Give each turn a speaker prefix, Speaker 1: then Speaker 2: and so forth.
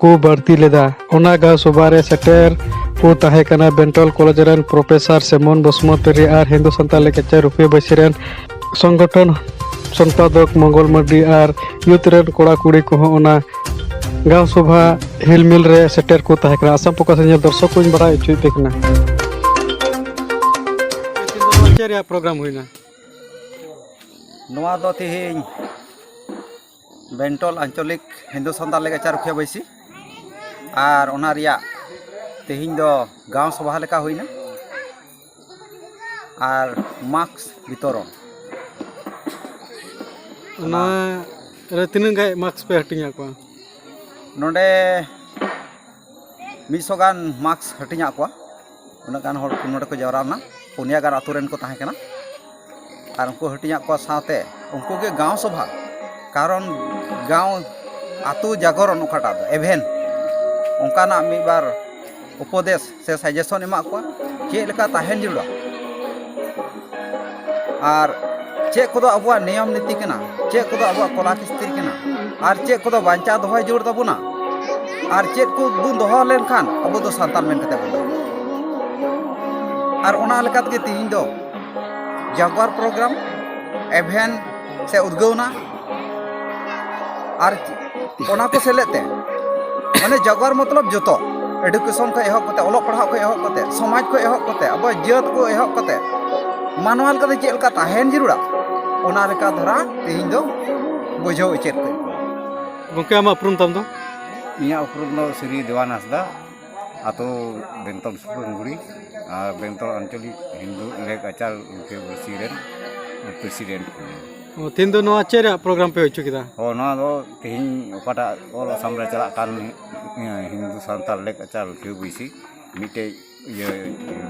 Speaker 1: ᱠᱚ ᱵᱟᱹᱲᱛᱤ ᱞᱮᱫᱟ ᱚᱱᱟ ᱜᱟᱶ ᱥᱚᱵᱷᱟ ᱨᱮ ᱥᱮᱴᱮᱨ ᱠᱚ ᱛᱟᱦᱮᱸ ᱠᱟᱱᱟ ᱵᱮᱱᱴᱚᱞ ᱠᱚᱞᱮᱡᱽ ᱨᱮᱱ ᱯᱨᱚᱯᱷᱮᱥᱚᱨ ᱥᱮᱢᱚᱱ ᱵᱚᱥᱩᱢᱚᱛᱟᱨᱤ ᱟᱨ ᱦᱤᱱᱫᱩ ᱥᱟᱱᱛᱟᱲ ᱞᱮᱠᱪᱟᱨ ᱨᱩᱯᱤᱭᱟᱹ ᱵᱟᱹᱭᱥᱤ ᱨᱮᱱ ᱥᱚᱝᱜᱚᱴᱷᱚᱱ ᱥᱚᱢᱯᱟᱫᱚᱠ ᱢᱚᱝᱜᱚᱞ ᱢᱟᱨᱰᱤ ᱟᱨ ᱭᱩᱛᱷ ᱨᱮᱱ ᱠᱚᱲᱟ ᱠᱩᱲᱤ ᱠᱚᱦᱚᱸ ᱚᱱᱟ ᱜᱟᱶ ᱥᱚᱵᱷᱟ ᱦᱤᱞᱢᱤᱞ ᱨᱮ ᱥᱮᱴᱮᱨ ᱠᱚ ᱛᱟᱦᱮᱸ ᱠᱟᱱᱟ ᱟᱥᱟᱢ ᱯᱨᱚᱠᱟᱥ ᱧᱮᱞ ᱫᱚᱨशᱚᱠ ᱠᱚᱧ ᱵᱟᱲᱟᱭ ᱦᱚᱪᱚᱭᱮᱫ ᱯᱮ ᱠᱟᱱᱟ ᱪᱮᱫ ᱨᱮᱭᱟᱜ ᱯᱨᱳᱜᱨᱟᱢ ᱦᱩᱭᱱᱟ ᱱᱚᱣᱟ
Speaker 2: ᱫᱚ ᱛᱮᱦᱮᱧ ᱵᱮᱱᱴᱚᱞ ᱟᱧᱪᱚᱞᱤᱠ ᱦᱤᱱᱫᱩ ᱥᱟᱱᱛᱟᱲ ᱞᱮᱠᱪᱟᱨ ᱨᱩᱠᱷᱤᱭᱟᱹ ᱵᱟᱹᱭᱥᱤ ᱟᱨ ᱚᱱᱟ ᱨᱮᱭᱟᱜ ᱛᱮᱦᱮᱧ ᱫᱚ ᱜᱟᱶ ᱥᱚᱵᱷᱟ ᱞᱮᱠᱟ ᱦᱩᱭᱱᱟ ᱟᱨ ᱢᱟᱠᱥ ᱵᱤᱛᱚᱨᱚᱱ
Speaker 1: ᱚᱱᱟ ᱨᱮ ᱛᱤᱱᱟᱹᱜ ᱜᱟᱱ ᱢᱟᱠᱥ ᱯᱮ ᱦᱟᱹᱴᱤᱧᱟᱫ ᱠᱚᱣᱟ ᱱᱚᱰᱮ
Speaker 2: ᱢᱤᱫ ᱥᱚ ᱜᱟᱱ ᱢᱟᱠᱥ ᱦᱟᱹᱴᱤᱧᱟᱫ ᱠᱚᱣᱟ ᱩᱱᱟᱹᱜ ᱜᱟᱱ ᱦᱚᱲ ᱱᱚᱰᱮ ᱠᱚ ᱡᱟᱣᱨᱟ ᱞᱮᱱᱟ ᱯᱩᱱᱭᱟ ᱜᱟᱱ ᱟᱹᱛᱩ ᱨᱮᱱ ᱠᱚ ᱛᱟᱦᱮᱸ ᱠᱟᱱᱟ ᱟᱨ ᱩᱱᱠᱩ ᱦᱟᱹᱴᱤᱧᱟᱜ ᱠᱚᱣᱟ ᱥᱟᱶᱛᱮ ᱩᱱᱠᱩ ᱜᱮ ᱜᱟᱶ ᱥᱚᱵᱷᱟ ᱠᱟᱨᱚᱱ ᱜᱟᱶ ᱟᱹᱛᱩ ᱡᱟᱜᱚᱨᱚᱱ ᱚᱠᱟᱴᱟᱜ ᱫᱚ ᱮᱵᱷᱮᱱ ᱚᱱᱠᱟᱱᱟᱜ ᱢᱤᱫ ᱵᱟᱨ ᱩᱯᱚᱫᱮᱥ ᱥᱮ ᱥᱟᱡᱮᱥᱚᱱ ᱮᱢᱟᱜ ᱠᱚᱣᱟ ᱪᱮᱫ ᱞᱮᱠᱟ ᱛᱟᱦᱮᱱ ᱡᱟᱹᱨᱩᱲᱟ ᱟᱨ ᱪᱮᱫ ᱠᱚᱫᱚ ᱟᱵᱚᱣᱟᱜ ᱱᱤᱭᱚᱢ ᱱᱤᱛᱤ ᱠᱟᱱᱟ ᱪᱮᱫ ᱠᱚᱫᱚ ᱟᱵᱚᱣᱟᱜ ᱠᱚᱞᱟ ᱠᱤᱥᱛᱤ ᱠᱟᱱᱟ ᱟᱨ ᱪᱮᱫ ᱠᱚᱫᱚ ᱵᱟᱧᱪᱟᱣ ᱫᱚᱦᱚᱭ ᱡᱟᱹᱨᱩᱲ ᱛᱟᱵᱚᱱᱟ ᱟᱨ ᱪᱮᱫ ᱠᱚ ᱵᱚᱱ ᱫᱚᱦᱚ ᱞᱮᱱᱠᱷᱟᱱ ᱟᱵᱚ ᱫᱚ ᱥᱟᱱᱛᱟᱲ ᱢᱮᱱ ᱠᱟᱛᱮ ᱵᱚᱱ ᱫᱚᱦᱚ ᱟᱨ ᱚᱱᱟ ᱞᱮᱠᱟ ᱛᱮᱜᱮ ᱛᱮᱦᱮᱧ ᱫᱚ ᱡᱟᱜᱽᱣᱟᱨ ᱯᱨᱳᱜᱨᱟᱢ ᱮᱵᱷᱮᱱ ᱥᱮ ᱩᱫᱽᱜᱟᱹᱣᱱᱟ ᱟᱨ ᱚᱱᱟ ᱠᱚ ᱥᱮᱞᱮᱫ ᱛᱮ ᱢᱟᱱᱮ ᱡᱟᱜᱣᱟᱨ ᱢᱚᱛᱞᱚᱵ ᱡᱚᱛᱚ ᱮᱰᱩᱠᱮᱥᱚᱱ ᱠᱷᱚᱱ ᱮᱦᱚᱵ ᱠᱟᱛᱮ ᱚᱞᱚᱜ ᱯᱟᱲᱦᱟᱜ ᱠᱷᱚᱱ ᱮᱦᱚᱵ ᱠᱟᱛᱮ ᱥᱚᱢᱟᱡᱽ ᱠᱷᱚᱱ ᱮᱦᱚᱵ ᱠᱟᱛᱮ ᱟᱵᱚᱣᱟᱜ ᱡᱟᱹᱛ ᱠᱚ ᱮᱦᱚᱵ ᱠᱟᱛᱮ ᱢᱟᱱᱣᱟ ᱞᱮᱠᱟᱛᱮ ᱪᱮᱫ ᱞᱮᱠᱟ ᱛᱟᱦᱮᱱ ᱡᱟᱹᱨᱩᱲᱟ ᱚᱱᱟ ᱞᱮᱠᱟ ᱫᱷᱟᱨᱟ ᱛᱮᱦᱮᱧ ᱫᱚ ᱵᱩᱡᱷᱟᱹᱣ ᱩᱪᱮᱫ ᱠᱚ ᱜᱚᱢᱠᱮ
Speaker 1: ᱟᱢᱟᱜ ᱩᱯᱨᱩᱢ ᱛᱟᱢ ᱫᱚ ᱤᱧᱟᱹᱜ ᱩᱯᱨᱩᱢ
Speaker 3: ᱫᱚ ᱥᱨᱤ ᱫᱮᱣᱟᱱ ᱦᱟᱸᱥᱫᱟ ᱟᱛᱳ ᱵᱮᱱᱛᱚᱞ ᱥᱩᱯᱨᱩᱢᱜᱩᱲᱤ ᱟᱨ ᱵᱮᱱᱛᱚᱞ ᱟᱧᱪᱚᱞᱤᱠ ᱦᱤᱱᱫᱩ ᱞᱮᱠ ᱟᱪᱟᱨ ᱨᱩᱠᱷᱤᱭᱟᱹ ᱯᱟᱹᱨᱥᱤ ᱨᱮᱱ ᱯᱨᱮᱥᱤᱰᱮᱱᱴ ᱠᱟᱹᱱᱟᱹᱧ ᱛᱤᱦᱤᱧ
Speaker 1: ᱫᱚ ᱱᱚᱣᱟ ᱪᱮᱫ ᱨᱮᱭᱟᱜ ᱯᱨᱳᱜᱨᱟᱢ ᱯᱮ ᱦᱩᱭ ᱦᱚᱪᱚ ᱠᱮᱫᱟ ᱚ ᱱᱚᱣᱟ ᱫᱚ ᱛᱤᱦᱤᱧ
Speaker 3: ᱚᱠᱟᱴᱟᱜ ᱚᱞ ᱟᱥᱟᱢ ᱨᱮ ᱪᱟᱞᱟᱜ ᱠᱟᱱ ᱦᱤᱱᱫᱩ ᱥᱟᱱᱛᱟᱲ ᱞᱮᱠᱪᱟᱨ ᱵᱟᱹᱭᱥᱤ ᱢᱤᱫᱴᱮᱡ ᱤᱭᱟᱹ